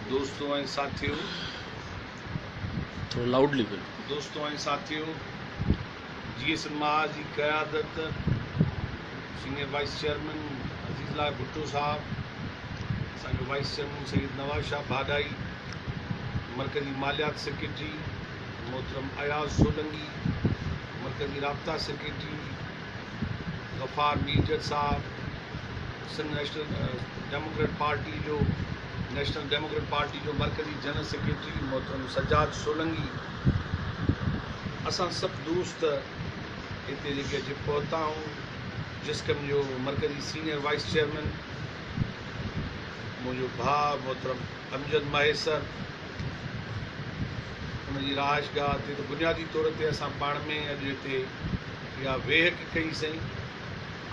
دوستو ۽ ساٿيو! جيئي سنما جي قيادت senior vice chairman Azizullah Bhutto صاحب، اسان جو وائيس چيئرمين سيد نواز شاهه ڀاڏائي، مرڪزي ماليات سيڪريٽري محترم اياز سولنگي، مرڪزي رابطا secretary Ghaffar Mirjat Sahib Sindh national democrat party جو نيشنل ڊيموڪريٽ پارٽي جو مرڪزي جنرل سيڪريٽري محترم سجاد سولنگي اسان سڀ دوست هتي جيڪي اچي پهتا آهيون جسڪم جو مرڪزي سينئر وائس چيئرمين منهنجو ڀاء محترم امجد مهيسر ان جي رهائش گاهه تي بنيادي طور تي اسان پاڻ ۾ اڄ هتي اها ويهڪ ڪئي سئي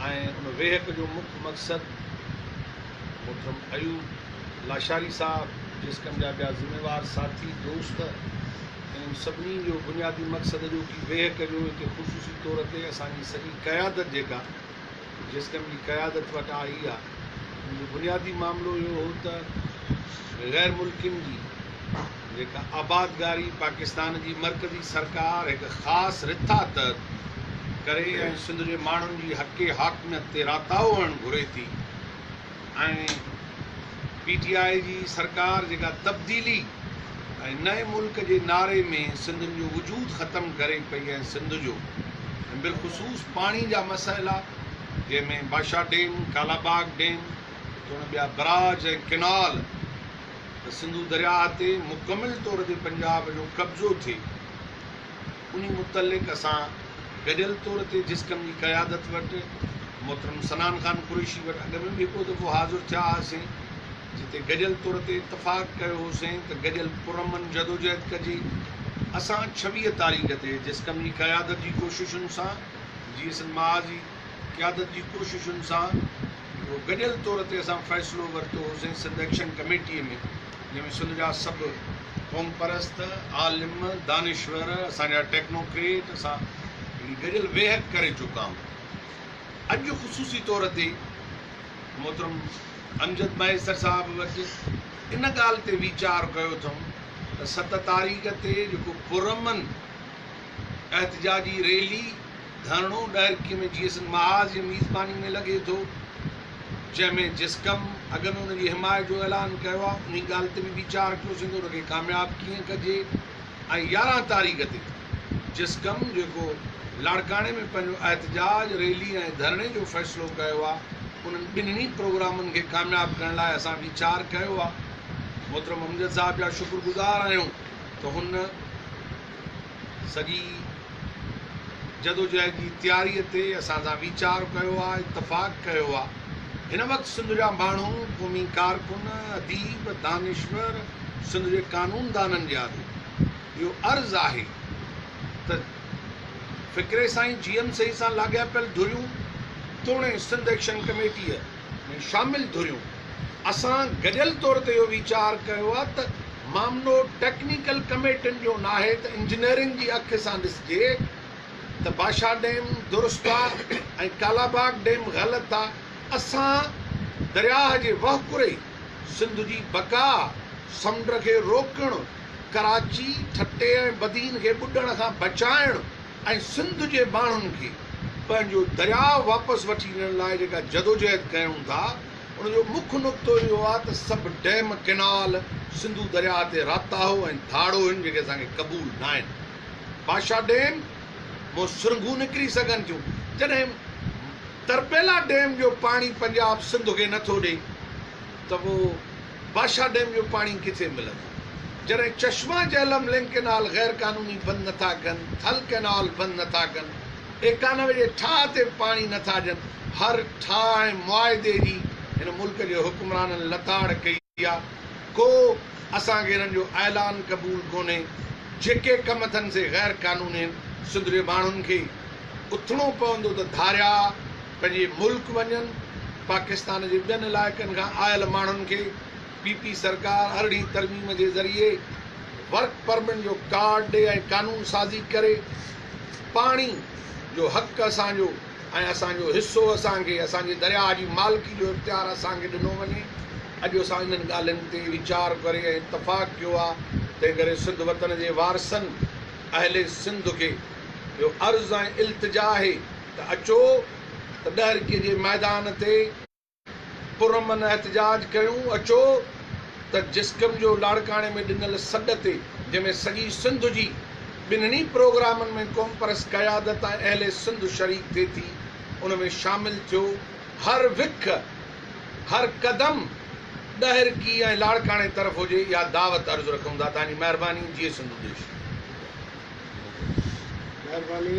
۽ ان ويهڪ جو مک مقصد محترم ايوب لاشاري صاحب جسقم جا ٻيا ذميوار ساٿي دوست انهن سڀني جو بنيادي مقصد جو ڪي ويهڪ جو هتي خصوصي طور تي اسان جي سڄي قيادت جيڪا جيسٽم جي قيادت وٽ آئي آ ان جو بنيادي معاملو اهو هو ته غير ملڪين جي جيڪا آبادگاري پاڪستان جي مرڪزي سرڪار هڪ خاص رٿا تحت ڪري ۽ سنڌ جي ماڻهن جي حق حاڪميت تي راتاهو هڻ گهري ٿي. ۽ پي ٽي آء جي سرڪار جيڪا تبديلي ۽ نئين ملڪ جي نعري ۾ سنڌين جو وجود ختم ڪري پئي ۽ سنڌ جو ۽ بالخصوص پاڻي جا مسئلا جنهن ۾ باشا ڊيم، ڪالاباغ ڊيم توڻي ٻيا براج ۽ ڪئنال ته سنڌو درياهه تي مڪمل طور تي پنجاب جو قبضو ٿئي. انهي متعلق اسان گڏيل طور تي جس ڪم جي قيادت وٽ محترم صنعان خان قريشي وٽ اڳ ۾ به هڪڙو دفعو حاضر ٿيا هئاسين جتي گڏيل طور تي اتفاق ڪيو هوسين ته گڏيل پرامن جدوجهد ڪجي اسان ڇويهه تاريخ تي جس ڪم جي قيادت جي ڪوششن سان جي ايس اين معاذ جي قيادت جي ڪوششن سان هڪڙو گڏيل طور تي اسان فيصلو ورتو هوسين سنڌ ايڪشن ڪميٽي ۾ جنهن ۾ سنڌ جا سڀ قومپرست، عالم، دانشور، اسان جا ٽيڪنوڪريٽ سان گڏيل ويهڪ ڪري چڪا آهون. اڄ خصوصي طور تي محترم امجد مهيسر صاحب وٽ ان ڳالهه تي ويچار ڪيو اٿم ته ست تاريخ تي جيڪو پرامن احتجاجي ريلي، ڌرڻو ڏهرڪي ۾ جي ايس اين محاذ جي ميزباني ۾ لڳي ٿو، جنهن ۾ جسقم اڳ ۾ ان جي حمايت جو اعلان ڪيو آهي، انهي ڳالهه تي به ويچار ڪيو سگهندو ته ان کي ڪامياب ڪيئن ڪجي ۽ يارهن تاريخ تي جسقم جيڪو لاڙڪاڻي ۾ پنهنجو احتجاج ريلي ۽ ڌرڻي جو فيصلو ڪيو آهي، انهن ٻنهي پروگرامن کي ڪامياب ڪرڻ لاء اسان ويچار ڪيو آهي. محترم امجد صاحب جا شڪر گذار آهيون ته هن. سڄي جدوجهد جي تياريء تي اسان سان ويچار ڪيو آ، اتفاق ڪيو آ. هن وقت سنڌ جا ماڻهو، قومي ڪارڪن، اديب، دانشور، سنڌ جي قانوندانن جي آڏو اهو عرض آهي ته فڪري سائين جي ايم سيد سان لاڳاپيل ڌريون توڻي سنڌ ايڪشن ڪميٽيء، ۾ شامل ڌريون اسان گڏيل طور تي اهو ويچار ڪيو آهي ته معاملو ٽيڪنيڪل ڪميٽين جو ناهي ته انجنيئرنگ جي اک سان ڏسجي ته باشا ڊيم درست آهي ۽ ڪالاباغ ڊيم غلط آهي اسان درياهه جي وهڪري سنڌ جي بقا سمنڊ کي روڪڻ ڪراچي ٺٽي ۽ بدين کي ٻڏڻ کان بچائڻ ۽ سنڌ جي ماڻهن کي پنهنجو درياء واپس وٺي ڏيڻ لاء جيڪا جدوجهد ڪيون ٿا ان جو مک نقطو اهو آهي ته سڀ ڊيم ڪئنال سنڌو درياء تي راتاهو ۽ ڌاڙو هن جيڪي اسان کي قبول ناهن باشا ڊيم مون سرنگهون نڪري سگهن ٿيون جڏهن تربيلا ڊيم جو پاڻي پنجاب سنڌ کي نٿو ڏي. ته پوء باشا ڊيم جو پاڻي ڪٿي ملندو؟ جڏهن چشما جهلم لنڪ ڪئنال غير قانوني بند نٿا ڪن، ٿل ڪئنال بند نٿا ڪن، ايڪانوي جي ٺاهه تي پاڻي نٿا ڏين، هر ٺاهه ۽ معاهدي جي هن ملڪ جي حڪمرانن لتاڙ ڪئي آ، ڪو اسان کي انهن جو اعلان قبول ڪونهي، جيڪي ڪم اٿن سي غير قانوني هن، سنڌ جي ماڻهن کي اٿڻو پوندو ته ڌاريا. پنهنجي ملڪ وڃن، پاڪستان جي ٻين علائقن کان آيل ماڻهن کي پي پي سرڪار ارڙهين ترميم جي ذريعي ورڪ پرمٽ جو ڪارڊ ڏي ۽ قانون سازي ڪري پاڻي جو حق اسان جو ۽ اسان جو حصو اسان کي اسان جي درياهه جي مالڪي جو اختيار اسان کي ڏنو وڃي اڄ اسان انهن ڳالهين تي ويچار ڪري ۽ اتفاق ڪيو آ تنهن ڪري سنڌ وطن جي وارثن اهل سنڌ کي اهو عرض ۽ التجا آهي ته اچو ته ڏهرڪي جي ميدان تي پرامن احتجاج ڪيون، اچو ته جسقم جو لاڙڪاڻي ۾ ڏنل سڏ تي جنهن ۾ سڄي سنڌ جي ٻنهني پروگرامن ۾ قومپرست قيادت ۽ اهل سنڌ شريڪ ٿئي ٿي ان ۾ شامل ٿيو، هر وک هر قدم ڏهرڪي ۽ لاڙڪاڻي طرف هجي اها دعوت عرض رکون ٿا، توهان جي مهرباني جيئي سنڌو ديش. مهرباني.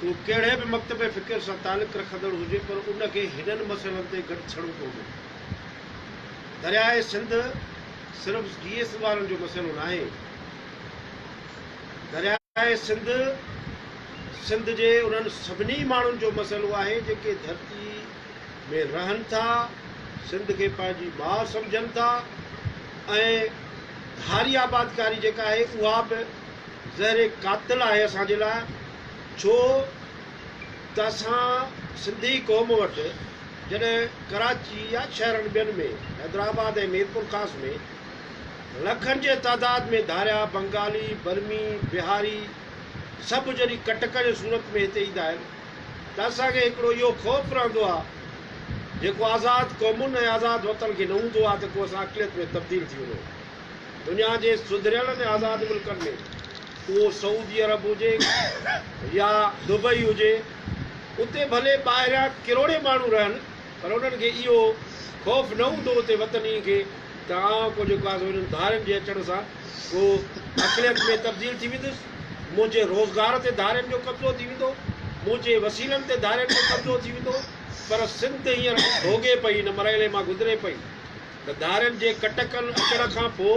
هو ڪهڙي به مڪتب فڪر سان تعلق رکندڙ هجي پر ان کي هنن مسئلن تي گڏ ٿيڻو پوندو. درياء سنڌ صرف جي ايس وارن جو مسئلو ناهي. درياء سنڌ سنڌ جي انهن سڀني ماڻهن جو مسئلو آهي جيڪي ڌرتي ۾ رهن ٿا، سنڌ کي پنهنجي ماء سمجهن ٿا ۽ ڌاري آبادڪاري جيڪا آهي اها به زهر قاتل آهي اسان جي لاء ڇو ته اسان سنڌي قوم وٽ جڏهن ڪراچي يا شهرن ٻين ۾ حيدرآباد ۽ ميرپورخاص ۾ لکن جي تعداد ۾ ڌاريا بنگالي برمي بهاري سڀ جڏهن ڪٽڪ جي صورت ۾ هتي ايندا آهن ته اسان کي هڪڙو اهو خوف رهندو آهي جيڪو آزاد قومن ۽ آزاد وطن کي نه هوندو آهي ته ڪو اسان اقليت ۾ تبديل ٿي وڃون. دنيا جي سڌريل ۽ آزاد ملڪن ۾ اهو سعودي عرب هجي يا دبئي هجي اتي ڀلي ٻاهريان ڪروڙين ماڻهو رهن پر انهن کي اهو خوف نه هوندو اتي وطني کي ته آئون ڪو جيڪو آهي سو انهن ڌارين جي اچڻ سان ڪو اقليت ۾ تبديل ٿي ويندس منهنجي روزگار تي ڌارين جو قبضو ٿي ويندو منهنجي وسيلن تي ڌارين جو قبضو ٿي ويندو پر سنڌ هينئر ڀوڳي پئي ان مرحلي مان گذري پئي. ته ڌارين جي ڪٽڪل اچڻ کان پوء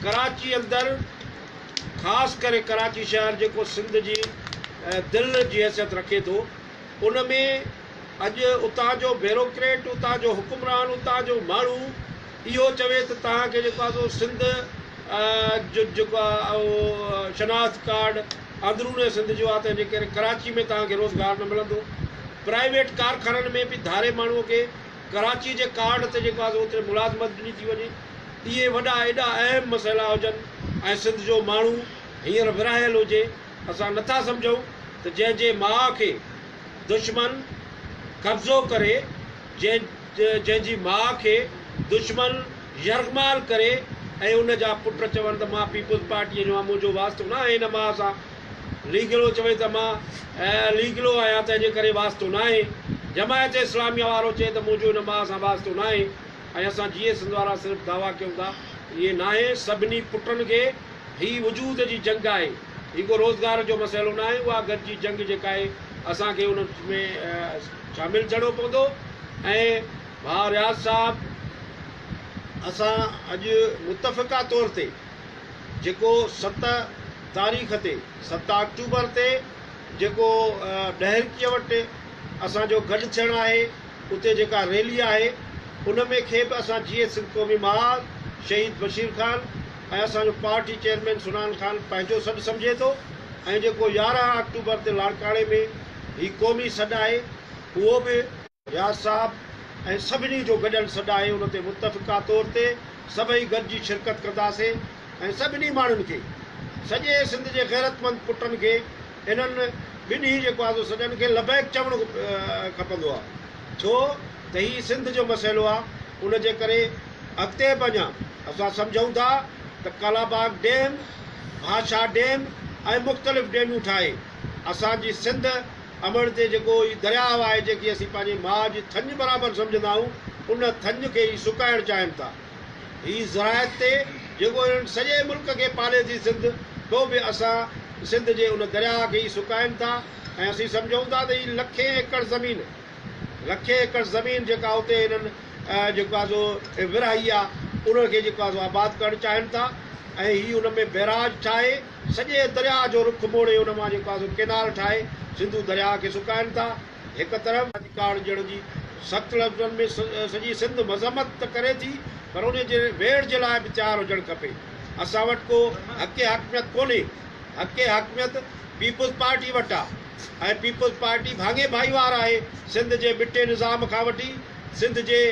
ڪراچي اندر خاص ڪري ڪراچي شهر جيڪو سنڌ جي دل جي حيثيت رکي ٿو ان ۾ اڄ اتان جو بيروڪريٽ اتان جو حڪمران اتان جو ماڻهو اهو چوي ته توهان کي جيڪو آسو سنڌ جو جيڪو آ اهو شناخت ڪارڊ اندروني سنڌ جو آ تنهنجي ڪري ڪراچي ۾ توهان کي روزگار نه ملندو پرائيويٽ ڪارخانن ۾ به ڌاري ماڻهو کي ڪراچي جي ڪارڊ تي جيڪو آهي سو اوتري ملازمت ڏني ٿي وڃي. اهي وڏا ايڏا اهم مسئلا هجن ۽ سنڌ جو ماڻهو هينئر ورهايل هجي، اسان نٿا سمجهون ته جنهن جي ماء کي دشمن قبضو ڪري، جنهن جنهن جي ماء کي دشمن يرغمال ڪري ۽ ان جا پٽ چون ته مان پيپلز پارٽيء جو آهيان، منهنجو واسطو نه آهي هن ماء سان. ليگلو چوي ته مان ليگلو آهيان تنهن جي ڪري واسطو ناهي، جماعت اسلاميه وارو چئي ته منهنجو ان ماء سان واسطو ناهي ۽ اسان جيئي سنڌ وارا صرف دعويٰ ڪيون ٿا ائين ناهي سڀني پٽن کي هي وجود جي جنگ آهي هي ڪو روزگار جو مسئلو ناهي اها گڏجي جنگ جيڪا آهي اسان کي ان ۾ شامل ٿيڻو پوندو ۽ ڀاء رياض صاحب اسان اڄ متفقه طور تي جيڪو ست تاريخ تي ست آڪٽوبر تي جيڪو ڏهرڪيء وٽ اسان جو گڏ ٿيڻ آهي اتي جيڪا ريلي آهي ان ۾ کي به اسان جيئي سنڌ قومي محاذ شهيد بشير خان ۽ اسان جو پارٽي چيئرمين سنان خان پنهنجو سڏ سمجهي ٿو ۽ جيڪو يارهن آڪٽوبر تي لاڙڪاڻي ۾ هي قومي سڏ آهي اهو به رياض صاحب ۽ سڀني جو گڏيل سڏ آهي ان تي متفقه طور تي سڀئي گڏجي شرڪت ڪنداسين ۽ سڀني ماڻهن کي سڄي سنڌ جي غيرتمند پٽن کي انهن ٻنهي جيڪو آزو سڏن کي لبيڪ چوڻ کپندو آ ڇو ته هي سنڌ جو مسئلو آ ان جي ڪري اڳتي به اڃا اسان سمجهون ٿا ته ڪالاباغ ڊيم ڀاشا ڊيم ۽ مختلف ڊيمون ٺاهي اسان جي سنڌ امڙ تي جيڪو هي درياهه آهي، جنهن کي اسين پنهنجي ماء جي ٿڃ برابر سمجهندا آهيون، ان ٿڃ کي هي سڪائڻ چاهين ٿا. هي زراعت تي جيڪو هنن سڄي ملڪ کي پالي ٿي سنڌ، سو به اسان سنڌ جي ان درياهه کي ئي سڪائين ٿا ۽ اسين سمجهون ٿا ته هي لکين ايڪڙ زمين لکين ايڪڙ زمين جيڪا اتي هنن جيڪو آهي سو ورهائي آهي، ان کي جيڪو آهي سو آباد ڪرڻ چاهين ٿا ۽ هي ان ۾ بئراج ٺاهي، سڄي درياء جو رخ موڙي ان مان جيڪا سو ڪينال ٺاهي سنڌو درياء کي سڪائين ٿا هڪ طرف. راڄ ڪارڊ جهڙن جي سخت لفظن ۾ سڄي سنڌ مذمت ته ڪري ٿي پر انهي جي ويڙهه جي لاء به تيار هجڻ کپي. اسان وٽ ڪو حق حاڪميت ڪونهي. حق حاڪميت پيپلز پارٽي وٽ آ ۽ پيپلز پارٽي ڀاڱي ڀائيوار آهي سنڌ جي مٽي نظام کان وٺي سنڌ جي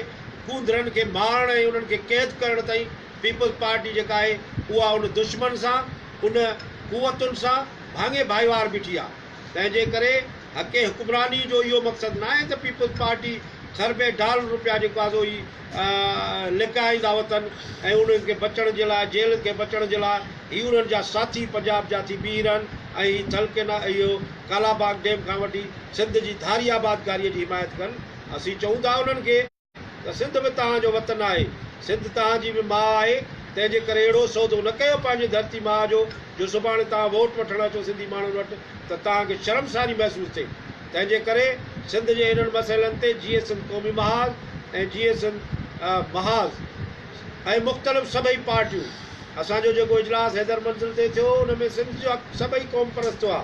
ڪونڌرن کي مارڻ ۽ انهن کي قيد ڪرڻ تائين. پيپلز پارٽي جيڪا آهي اها ان دشمن سان ان قوتن سان ڀاڱي ڀائيوار بيٺي آهي تنهن جي ڪري حق حڪمراني جو اهو مقصد ناهي ته پيپلز پارٽي کربين ڊالر رپيا جيڪو آهي سو هي لڪائيندا وتن ۽ انهن کي بچڻ جي لاء جيلن کي بچڻ جي لاء هي انهن جا ساٿي پنجاب جا ٿي بيهي رهن ۽ هي ٿل ڪينا اهو ڪالاباغ ڊيم کان وٺي سنڌ جي ڌاري آبادگاري جي حمايت ڪن اسين چئون ٿا انهن کي ته سنڌ به توهان جو وطن آهي، سنڌ توهان جي به ماء آهي، تنهن جي ڪري اهڙو سودو نه ڪيو پنهنجي ڌرتي ماء جو، جو سڀاڻي توهان ووٽ وٺڻ اچو سنڌي ماڻهن وٽ ته توهان کي شرمساري محسوس ٿئي. تنهن جي ڪري سنڌ جي انهن مسئلن تي جيئي سنڌ قومي محاذ ۽ جيئي سنڌ محاذ ۽ مختلف سڀئي پارٽيون، اسان جو جيڪو اجلاس حيدر منزل تي ٿيو ان ۾ سنڌ جا سڀئي قومپرست هئا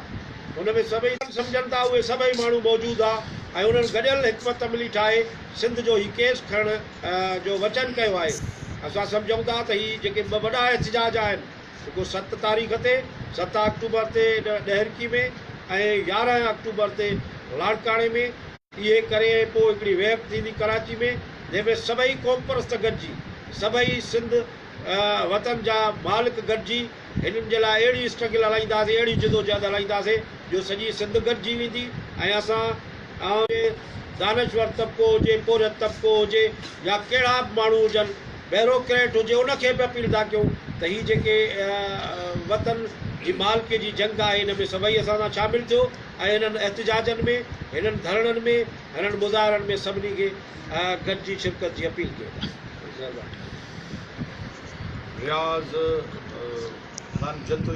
ان ۾ سڀئي سمجهن ٿا اهي سڀئي ماڻهو موجود ها ۽ انهن گڏيل حڪمت عملي ٺاهي سنڌ جو هي ڪيس کڻڻ جو وچن ڪيو آهي اسان سمجهون ٿا ته هي جيڪي ٻه وڏا احتجاج آهن جيڪو ست تاريخ تي ست آڪٽوبر تي ڏهرڪي ۾ ۽ يارهن آڪٽوبر تي لاڙڪاڻي ۾ اهي ڪري ۽ پوء هڪڙي ويب ٿيندي ڪراچي ۾ جنهن ۾ سڀئي قومپرست گڏجي سڀئي سنڌ وطن جا مالڪ گڏجي هنن جي لاء اهڙي اسٽرگل هلائينداسين اهڙي جدوجهد هلائينداسين جو سڄي سنڌ گڏجي ويندي ۽ اسان عوام جي دانشور طبقو هجي پورهيت طبقو هجي يا ڪهڙا به ماڻهو هجن بيروڪريٽ هجي ان کي به اپيل ٿا ڪيون ته هي جيڪي وطن جي مالڪي جي جنگ آهي ان ۾ سڀئي اسان سان شامل ٿيو. ۽ انهن احتجاجن ۾ هنن ڌرڻن ۾ هنن مظاهرن ۾ سڀني کي گڏجي شرڪت جي اپيل ڪيو ٿا مهرباني. رياض خان جتوئي